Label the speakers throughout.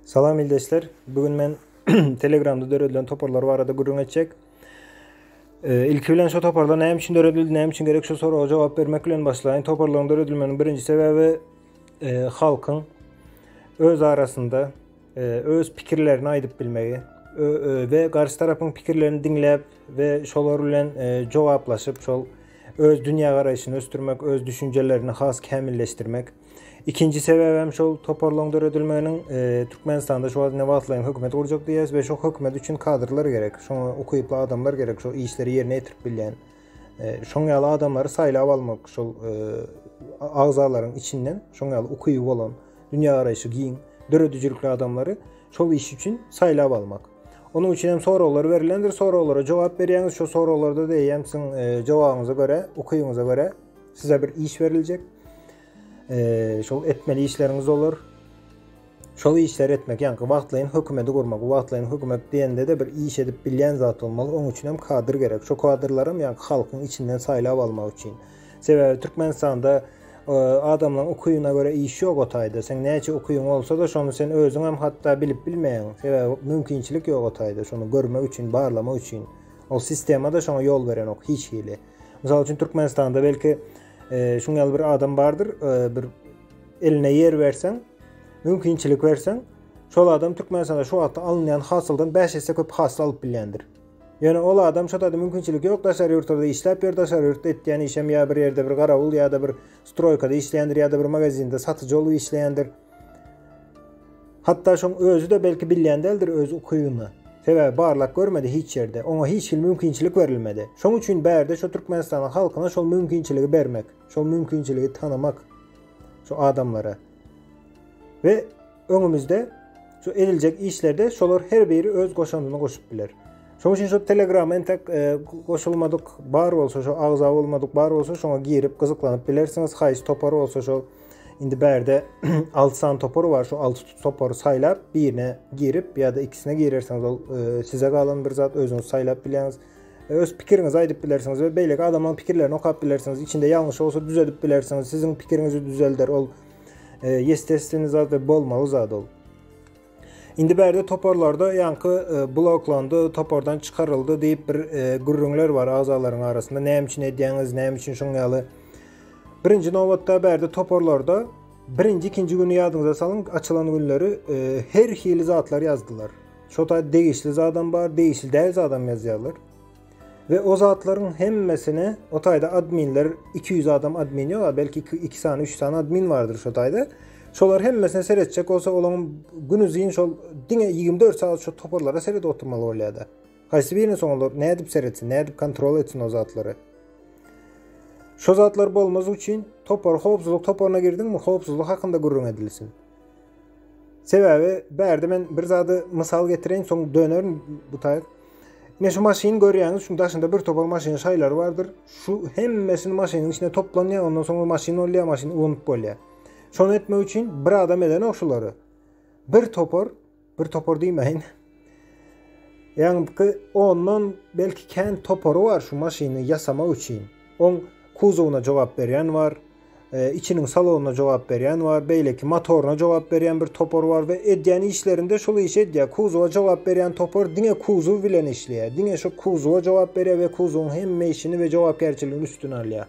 Speaker 1: Salam ildeşler. Bu gün men Telegramda döredilen toparlar barada gürrüň etjek. E, ilki bilen şu toparlar näme üçin döredildi, näme üçin gerek şu soraga jogap bermek bilen başlaýyn. Toparlaryň döredilmeginiň birinji sebäbi e, halkyň öz arasynda e, öz pikirlerini aýdyp bilmegi we garşy tarapyň pikirlerini diňläp we şolar bilen e, jogaplaşyp, şol öz dünýä garaýşyny ösdürmek, öz düşünjelerini has kämilleşdirmek. Ikinji sebäbem şol toparlaryň döredilmeginiň Türkmenistanda şu wagt indi wagtlaýyn hökümet gurjak diýýäs we şo hökümet üçin kadrlar gerek. Şoňa ukyply adamlar gerek, şo işleri ýerine ýetirip bilýän. Şoň ýaly adamlary saýlap almak şol agzalaryň içinden, şoň ýaly ukyby bolan, dünýä garaýşy giň, döredijilikli adamlary şol iş üçin saýlap almak. Onuň üçin hem soraglar berilendir, soraglara jogap berýäňiz, şo soraglarda da eýýäm siziň jogabyňyza görä, ukybyňyza görä Size bir iş beriljek. Eee, şol etmeli işleriňiz olar. Şol işleri etmek, ýa wagtlaýyn hökümeti gurmak, wagtlaýyn hökümet diýende-de bir iş edip bilýän zat bolmaly. Onuň üçin hem kadr gerek. Şo kadrlary hem ýa-da halkyň içinden saýlap almak üçin. Sebäbi Türkmenistanda e, adamlaryň ukyna görä iş ýok o taýda. Sen näçe ukyň bolsa-da, şony sen özüň hem hatda bilip bilmeýäň. Sebäbi mümkinçilik ýok o taýda, şony görmek üçin, barlamak üçin. O sistema-da şoňa ýol berenok hiç hili. Mysal üçin Türkmenistanda belki şuň ýaly bir adam bardyr, bir eline ýer berseň, mümkinçilik berseň, şol adam Türkmenistanda şu wagtda alynýan hasyldan 5 esse köp hasyl alyp bilýändir. Ýöne ol adam şu taýda mümkinçilik ýok, daşary ýurtlarda işläp ýör, daşary ýurtda etýän işem ýa bir ýerde bir garawul ýa-da bir stroýkada işleýändir ýa-da bir magazinde satyjy bolup işleýändir. Hatda şoň özi-de belki bilýän däldir öz ukybyny. Sebäbi barlak görmedi hiç ýerde, oňa hiç hili mümkinçilik berilmedi. Şoň üçin bärde şo Türkmenistanyň halkyna şol mümkinçiligi bermek, şol mümkinçiligi tanamak şo adamlara. We öňümizde şo ediljek işlerde şolar her biri öz goşandyny goşup biler. Şoň üçin şo Telegrama entek e, goşulmadyk bar bolsa, şo agza bolmadyk bar bolsa, şoňa girip gyzyklanyp bilersiňiz. Haýyş topar bolsa şo Indi bärde 6 san topar bar. Şu 6 topary saýlap, birine girip ýa-da ikisine girersiňiz. Ol e, size galan bir zat özüňiz saýlap bilýäňiz. E, öz pikiriňizi aýdyp bilersiňiz we beýleki adamyň pikirlerini okap bilersiňiz. Içinde ýalňyş bolsa düzedip bilersiňiz. Siziň pikiriňizi düzelder. Ol e, ýestesini zat we bolmaly zat ol. Indi bärde toparlarda ýaňky e, bloklandy, topardan çykaryldy diýip bir e, gürrüňler bar agzalaryň arasynda. Näme üçin edýäňiz, näme üçin şoň ýaly? Birinji nobatda bärde toparlarda birinji, ikinji güni ýadyňyza salyň, açylan günleri e, her hili zatlar ýazdylar. Şota degişli zadam bar, degişli däl zadam ýazýarlar. We o zatlaryň hemmesini o taýda adminler 200 adam admin ýok, a belki 2 sany, 3 sany admin bardyr şo taýda. Şolar hemmesine seretjek bolsa, olaryň günüzin şol diňe 24 sagat şo toparlara seredip oturmaly bolýada. Haýsy birini soň olar nädip seretsin, nädip kontrol etsin o zatlary? Şo zatlar bolmaz üçin topar howpsuzlyk toparyna girdiňmi, howpsuzlyk hakynda gürrüň edilsin. Sebäbi bärde men bir zady mysal getireýin, soň dönerin bu taýyk. Ine şu maşyny görýäňiz, şuň daşynda bir topar maşynyň şaýlary bardyr. Şu hemmesini maşynyň içine toplanýar, ondan soňra maşyn bolýar, maşyn ulanyp bolýar. Şony etmek üçin bir adam edenok şulary. Bir topar Bir topar diýmäýin. Ýaňky ondan belki kän topary bar şu maşyny ýasamak üçin. Oň kuzowyna jogap berýän bar, e, içiniň salonyna jogap berýän bar, beýleki motoryna jogap berýän bir topar bar we edýän işlerinde şol işi edýär. Kuzowa jogap berýän topar diňe kuzow bilen işleýär. Diňe şu kuzowa jogap berýär we kuzowyň hemme işini we jogapkärçiligini üstüne alýar.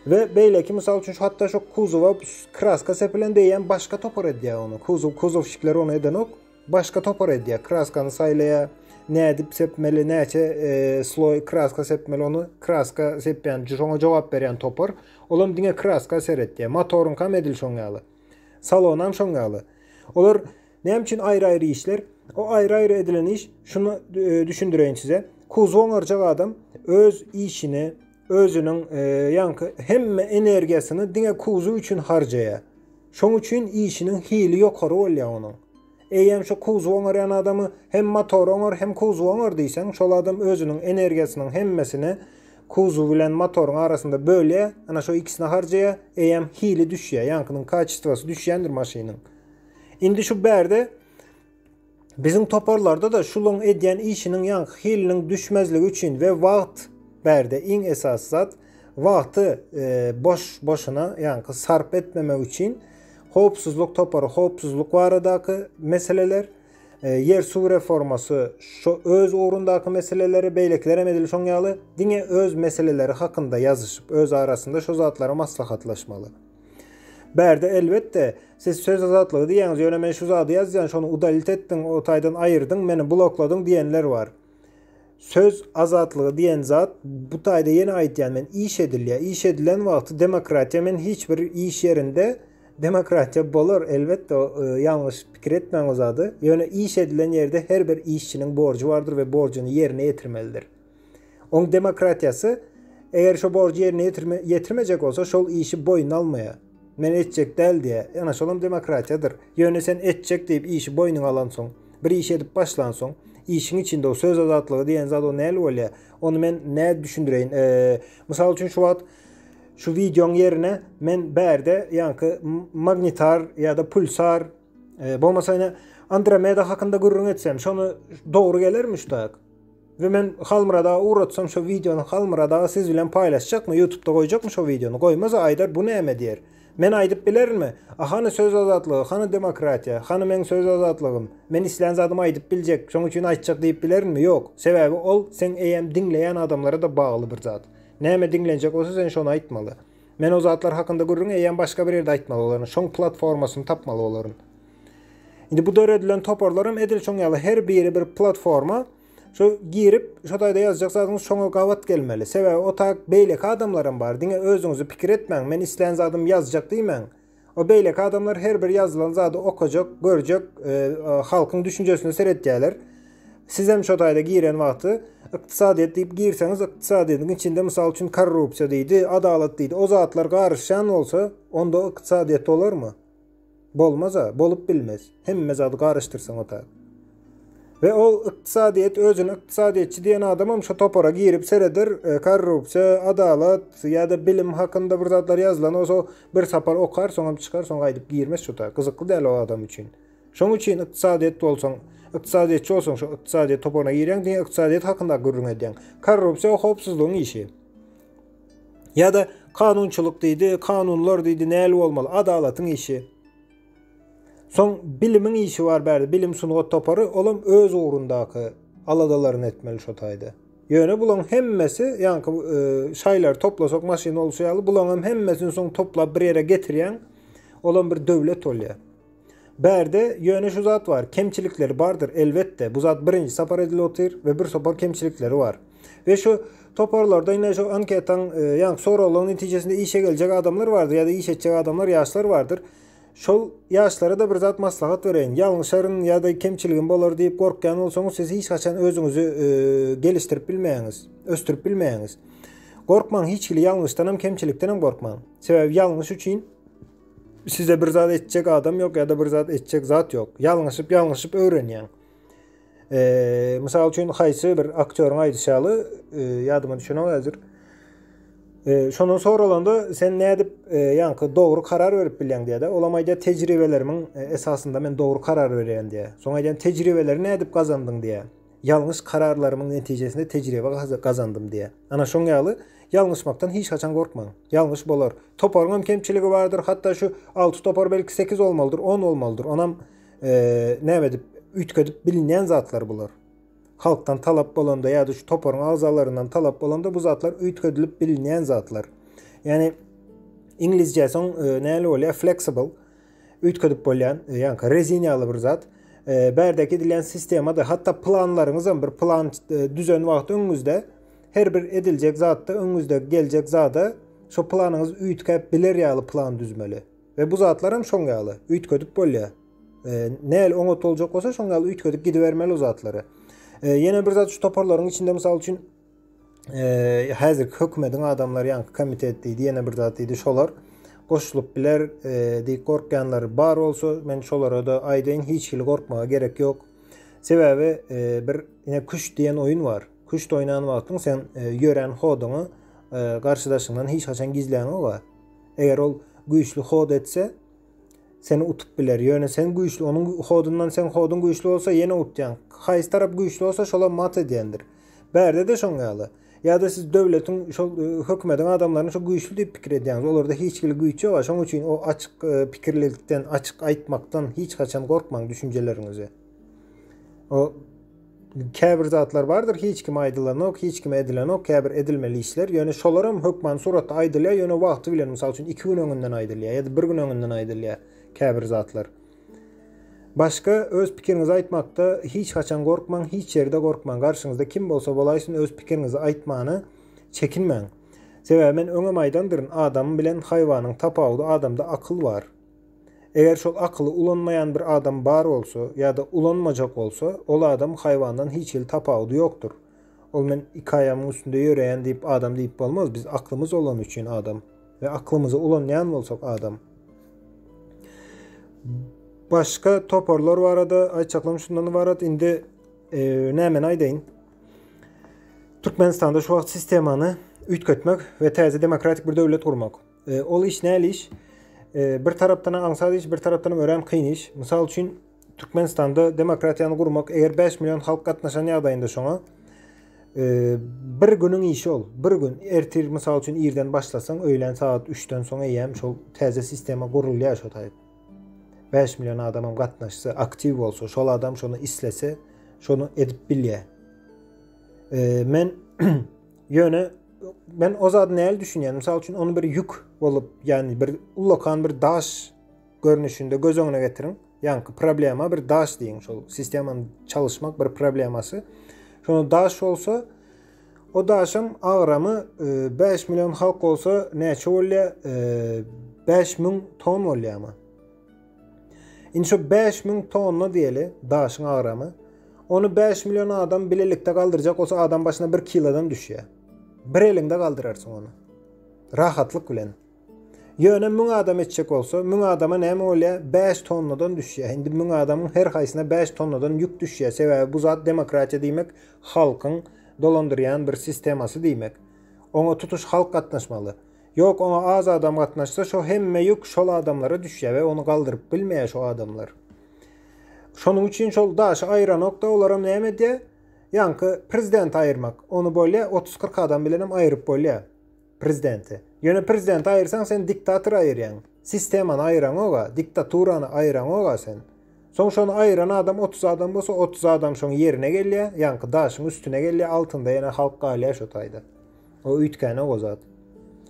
Speaker 1: We beýleki mysal üçin şu hatda şu kuzowa kraska sepilen diýýän başga topar edýär ony. Kuzow kuzowşikler ony edenok. Başga topar edýär. Kraskany saýlaýar. Nädip sepmeli, näçe e, sloý kraska sepmeli ony kraska sepýän, şoňa jogap berýän topar. Olam diňe kraska seretýär. Motoryňkam edil şoň ýaly. Salonam şoň ýaly. Olar Näme üçin aýry-aýry işler? O aýry-aýry edilen iş, şuny düşündireýin size. Kuzow oňarjak adam öz işini, özüniň ýaňky hemme energiýasyny diňe kuzow üçin harjaýar. Şoň üçin işiniň hili ýokary bolýar onuň. Eýýäm şu kuzow oňarýan adamy hem motory oňar, hem kuzowy oňar diýseň, şol adam özüniň energiýasynyň hemmesini kuzow bilen motoryň arasynda bölýär, ana şo ikisine harjaýar, eýýäm hili düşýär, ýaňkynyň kaçestwosy düşýändir maşynyň. Indi şu bärde biziň toparlarda-da şulaň edýän işiniň ýaňky hiliniň düşmezligi üçin we wagt bärde iň esasy zat wagty e, boş boşuna ýaňky sarp etmemek üçin howpsuzlyk topary howpsuzlyk baradaky meseleler e, ýer suw reformasy şu öz ugrundaky meseleleri beýlekiler hem edil şoň ýaly diňe öz meseleleri hakynda ýazyşyp öz arasynda şu zatlary maslahatlaşmaly. Bärde elbetde, siz söz azatlygy diýýäňiz, ýöne men şu zady ýazýan, şony udalit etdiň, o taýdan aýyrdyň, meni blokladyň diýenler bar. Söz azatlygy diýen zat, bu taýda ýene aýtýan men, iş edilýär. Iş edilen wagty demokratiýa men hiç bir iş ýerinde demokratiýa bolar, elbetde, ýalňyş pikir etmäň o zady, ýöne iş edilen ýerde her bir işçiniň borjy bardyr we borjuny ýerine ýetirmelidir. Oň demokratiýasy eger şo borjy ýerine ýetirmejek bolsa şol işi boýnuna almaýar. Men etjek däl diýýär. Ýöne şolam demokratiýadyr. Ýöne sen etjek diýip işi boýnuňa alansoň, bir iş edip başlansoň, işiň içinde o söz azatlygy diýen zat o näli bolýar? Ony men nädip düşündireýin? Mysal üçin şu wagt şu wideoň ýerine men bärde ýaňky magnitar ýa-da pulsar bolmasa ýene Andromeda hakynda gürrüň etsem, şony dogry gelermi şu tak? We men Halmyrat aga ugratsam şo wideony Halmyrat aga siz bilen paýlaşjakmy ýutubda goýjakmy şo wideony goýmasa aýdar bu näme diýer men aýdyp bilerinmi a hany söz azatlygy hany demokratiýa hany meň söz azatlygym men islän zadymy aýdyp biljek şoň üçin aýtjak diýip bilerinmi ýok sebäbi ol seň eýem diňleýän adamlara da bagly bir zat näme diňlenjek bolsa sen şony aýtmaly men o zatlar hakynda gürrüňi eýem başga bir ýerde aýtmaly bolaryn şoň platformasyny tapmaly bolaryn. Indi bu döredilen toparlar hem edil şoň ýaly her biri bir platforma. Şu girip, şu taýda ýazjak zadyňyz şoňa gabat gelmeli. Sebäbi o taýda beýleki adamlar hem bar. Diňe özüňizi pikir etmäň, men islän zadymy ýazjak diýmäň. O beýleki adamlar her bir ýazylan zady okajak, görjek, e, e, halkyň düşünjesine seretýärler. Siz hem şu taýda giren wagty ykdysadyýet diýip girseňiz, ykdysadyýetiň içinde mysal üçin korrupsiýa diýdi, adalat diýdi. O zatlar garyşýan bolsa, onda ykdysadyýet bolarmy? Bolmaz-a, bolup bilmez. Hemme zady garyşdyrsaň otag. We ol ykdysadyýet, özüni ykdysadyýetçi diýen adamam şo topara girip sereder, korrupsiýa, adalat ýa-da bilim hakynda bir zatlar ýazylan bolsa, bir sapar okar, soňam çykar, soň gaýdyp girmez şo otag. Gyzykly däl o adam üçin. Şoň üçin ykdysadyýet bolsaň, ykdysadyýetçi bolsaň, şo ykdysadyýet toparyna girýäň, diňe ykdysadyýet hakynda gürrüň edýäň. Korrupsiýa howpsuzlygyň işi. Ýa-da kanunçylyk diýdi, kanunlar diýdi, näli bolmaly? Adalatyň işi. Soň bilimiň işi bar bärde, bilim sungat topary, olam öz ugrundaky aladalaryny etmeli şo taýda. Ýöne bulaň hemmesi, ýaňky e, şaýlary toplasak maşyn bolşy ýaly, bulaňam hemmesini soň toplap bir ýere getirýäň, olam bir döwlet bolýar. Bärde ýöne şu zat bar, kemçilikleri bardyr, elbetde, bu zat birinji sapar edilip otyr we bir topar kemçilikleri bar. We şu toparlarda ine şu anketaň, e, ýa soraglaryň netijesinde işe geljek adamlar bardyr ýa-da iş etjek adamlar, ýaşlar bardyr. Şol ýaşlara da bir zat maslahat bereýin. Ýalňyşaryn ýa-da kemçiligim bolar diýip gorkýan bolsaňyz, siz hiç haçan özüňizi e, gelişdirip bilmeýäňiz, ösdürip bilmeýäňiz. Gorkmaň, hiç hili ýalňyşdan hem, kemçilikden hem gorkmaň. Sebäbi ýalňyş üçin Size bir zat etjek adam yok ya da bir zat etjek zat yok. Yalňyşyp yalňyşyp öwrenýäň. Eee, mysal üçin haýsy bir aktýoryň aýdyşy ýaly, e, ýadyma düşenok häzir. Eee, şondan soralanda sen nädip e, ýaňky dogry karar berip bilýäň diýýär-de. Olam aýdýar tejribelerimiň e, esasynda men dogry karar berýän diýýär. Soň aýdýan tejribeleri nädip gazandyň diýýär. Ýalňyş kararlarymyň netijesinde tejribe gazandym diýýär. Ana şoň ýaly, ýalňyşmakdan hiç haçan gorkmaň. Ýalňyş bolar. Toparyň hem kemçiligi bardyr, hatda şu alty topar belki sekiz bolmalydyr, on bolmalydyr. Onam näme edip, üýtgedip bilinýän zatlar bular. Halkdan talap bolanda ýa-da şu toparyň agzalaryndan talap bolanda bu zatlar üýtgedilip bilinýän zatlar. Ýani iňlisçesi näle bolýar? Flexible. üýtgedip bolýan, e, ýaňky rezin ýaly bir zat. E, bärdäki edilýän sistemada hatda planlaryňyz hem bir plan e, düzen wagt öňüňizde her bir ediljek zatda öňüňizde geljek zada şo planyňyz üýtgäp biler ýaly plan düzmeli. Ve bu zatlar hem şoň ýaly üýtgedip bolýar. E, näl oňat boljak bolsa şoň ýaly üýtgedip gidibermeli o zatlary. E, ýene bir zat şu toparlaryň içinde mysal üçin e, häzirki hökümetiň adamlary ýaňky komitet diýdi, ýene bir zat diýdi, şolar goşulyp biler e, diýip gorkýanlar bar bolsa, men şolara da aýdaýyn, hiç hili gorkmaga gerek ýok. Sebäbi e, bir ine küş diýen oýun bar. Küş oýnan wagtyň sen e, ýören hoduňy e, garşydaşyňdan hiç haçan gizläňoga. Eger ol güýçli hod etse, Seni utup biler. Ýöne sen güýçli. Onuň hodundan seň hoduň güýçli bolsa, ýene utýaň. Haýsy tarap güýçli bolsa, şola mat edýändir. Bärde-de şoň ýaly. Ýa-da siz döwletiň, şol hökümediň adamlaryny şu güýçli diýip pikir edýäňiz. Olarda hiç hili güýç ýok-a. Şoň üçin o açyk pikirlilikden, açyk aýtmakdan hiç haçan gorkmaň düşünjeleriňizi. O. Käbir zatlar bardyr, hiç kime aýdylanok, hiç kime edilenok, käbir edilmeli işler, ýöne şolaram hökmany suratda aýdylýar, ýöne wagty bilen, mysal üçin, iki gün öňünden aýdylýar ýa-da bir gün öňünden aýdylýar käbir zatlar. Başga öz pikiriňizi aýtmakda hiç haçan gorkmaň, hiç ýerde gorkmaň, garşyňyzda kim bolsa bolaýsyn öz pikiriňizi aýtmana çekinmäň. Sebäbi men öňem aýdandyryn, adam bilen haýwanyň tapawudy adamda akyl bar. Eger şol akyly ulanmaýan bir adam bar bolsa ýa-da ulanmajak bolsa, ol adam haýwandan hiç hili tapawudy ýokdur. Ol men iki aýamyň üstünde ýöreýän diýip adam diýip bolmaz, biz aklymyz olany üçin adam we aklymyzy ulanýan bolsak adam. Başga toparlar barada aýtjaklarym şundan ybarat. Indi e, nämeni aýdaýyn? Türkmenistanda şu wagt sistemany üýtgetmek we täze demokratik bir döwlet gurmak. E, ol iş näli iş? E, bir tarapdan aňsat iş, bir tarapdan örän kyn iş. Mysal üçin, Türkmenistanda demokratiýany gurmak, eger 5 million halk gatnaşan ýagdaýynda şoňa, e, bir günüň işi ol. Bir gün ertir mysal üçin irden başlasaň, öýlän sagat 3-den soň eýýäm şol täze sistema gurulýar şo taýyp. 5 million adamam gatnaşsa, aktiv bolsa, şol adam şonu islese, şonu edip bilýär. E, men Ýöne men o zady näl düşünýän? Mysal üçin ony bir ýük bolup, ýagny bir ullakan bir daş görnüşinde göz öňüne getiriň. Ýagny problema bir daş diýiň, şol sistemany çalyşmak bir problemasy. Şonda daş bolsa, o daşam agramy 5 e, million halk bolsa näçe bolýar? 5 e, müň ton bolýarmy? Indi şu bäş müň tonna diýeli daşyň agramy. Ony bäş million adam bilelikde galdyrjak bolsa adam başyna bir kilodan düşýär. Bir eliňde galdyrarsyň ony. Rahatlyk bilen. Ýöne müň adam etjek bolsa, müň adama näme bolýar? Bäş tonnadan düşýär. Indi müň adamyň her haýsyna bäş tonnadan ýük düşýär. Sebäbi bu zat demokratiýa diýmek, halkyň dolandyrýan bir sistemasy diýmek. Oňa tutuş halk gatnaşmaly. Ýok oňa az adam gatnaşsa şo hemme ýük şol adamlara düşýä we ony galdyryp bilmeýä şo adamlar. Şonuň üçin şol daşy aýranokda olaram näme edýä? Ýaňky prezidenti aýyrmak. Ony bolýa 30-40 adam bilenem aýryp bolýa prezidenti. Ýöne prezidenti aýyrsaň sen diktator aýyrýaň. Sistemany aýyraňoga, diktaturany aýyraňoga sen. Soň şony aýyran adam otuz adam bolsa, otuz adam şoň ýerine gelýä, ýaňky daşyň üstüne gelýä, altynda ýene halk galýa şo taýda. O üýtgänek o zat.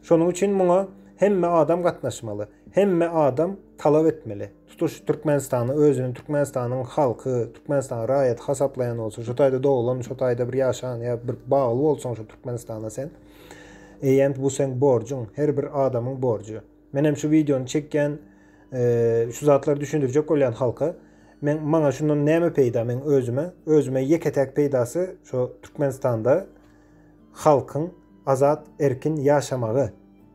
Speaker 1: Şonuň üçin muňa hemme adam gatnaşmaly. Hemme adam talap etmeli. Tutuş Türkmenistany özüni Türkmenistanyň halky, Türkmenistanyň raýaty hasaplaýan bolsa, şo taýda doglan, şo taýda bir ýaşan ýa bir bagly bolsaň şo Türkmenistana sen, eýýämt bu seň borjuň, her bir adamyň borjy. Menem şu videony çekýän şu zatlary düşündirjek bolýan halka. Men maňa şundan näme peýda men özüme? Özüme ýeke täk peýdasy şu Türkmenistanda halkyň azat erkin ýaşamagy.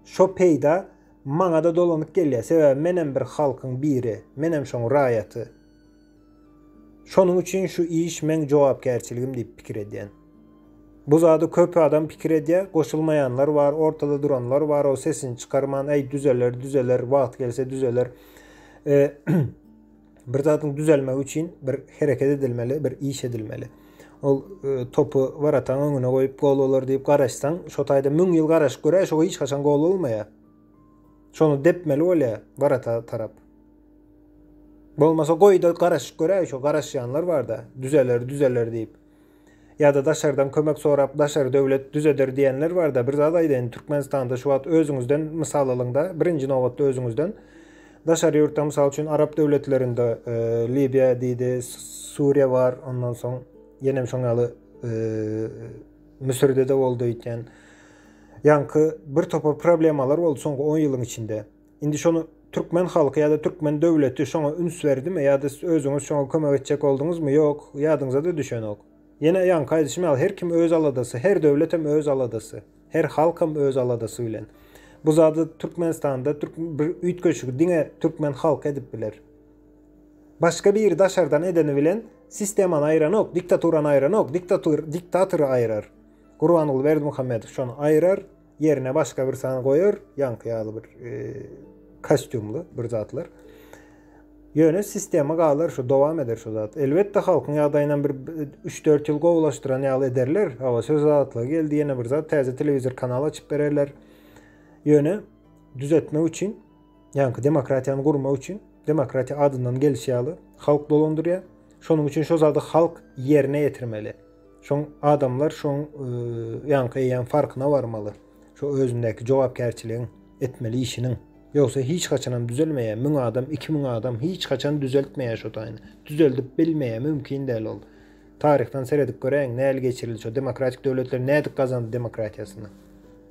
Speaker 1: Şo peýda maňada dolanyp gelýär. Sebäbi menem bir halkyň biri. Menem şoň raýaty. Şonuň üçin şu iş meň jogapkärçiligim diýip pikir edýän. Bu zady köp adam pikir edýär, goşulmaýanlar bar, ortada duranlar bar, o sesini çykarman, äý düzeler, düzeler, wagt gelse düzeler. bir zadyň düzelmegi üçin bir hereket edilmeli, bir iş edilmeli. Ol e, topy warataň öňüne goýup gol bolar diýip garaşsaň, şo taýda 1000 ýyl garaşyp görä, şo hiç haçan gol bolmaýar. Şony depmeli bolýar warata tarap. Bolmasa goýda garaşyp göräý şo garaşýanlar barda düzeler düzeler diýip. Ýada daşardan kömek sorap daşary döwlet düzeder diýenler barda bir zat aýdaýyn Türkmenistanda şu wagt özüňizden mysal alyňda birinji nobatda özüňizden daşary ýurtda mysal üçin arap döwletlerinde Libiýa diýdi Suriýa bar ondan soň ýenem şoň ýaly Müsürdede boldy öýtýän ýaňky bir topar problemalar boldy soňky on ýylyň içinde. Indi şony türkmen halky ýa-da türkmen döwleti şoňa üns berdimi ýa-da siz özüňiz şoňa kömek etjek bolduňyzmy, ýok, ýadyňyza-da düşenok. Ýene ýaňky aýdyşym ýaly, her kim öz aladasy, her döwletem öz aladasy, her halkam öz aladasy bilen. Bu zady Türkmenistanda bir üýtgeşigi diňe türkmen halky edip biler. Başga biri daşardan edeni bilen sistemany aýranok, diktaturany aýranok, diktatory aýrar. Gurbanguly Berdimuhamedow şony aýrar, Ýerine başga bir sany goýar, ýaňky ýaly bir kostýumly bir zatlar. Ýöne sistema galar şu dowam eder şu zat. Elbetde halkyň ýagdaýyndan bir 3-4 ýyl gowulaşdyran ýaly ederler. Hawa söz azatlygy geldi ýene bir zat täze telewizor kanal açyp bererler. Ýöne düzetmek üçin ýaňky demokratiýany gurmak üçin demokratiýa adyndan gelişýär. Halk dolandyrýar. Şonuň üçin şu zady halk ýerine ýetirmeli. Şoň adamlar şoň ýaňky eýýäm farkyna barmaly. Şo özündäki jogapkärçiligiň etmeli işiniň. Ýogsa hiç haçanam düzelmeýär. Müň adam, iki müň adam hiç haçan düzeltmeýär şo taýyny. Düzeldip bilmeýär, mümkin däl ol. Taryhdan seredip göräýiň, näl geçirildi şo demokratik döwletler nädip gazandy demokratiýasyny.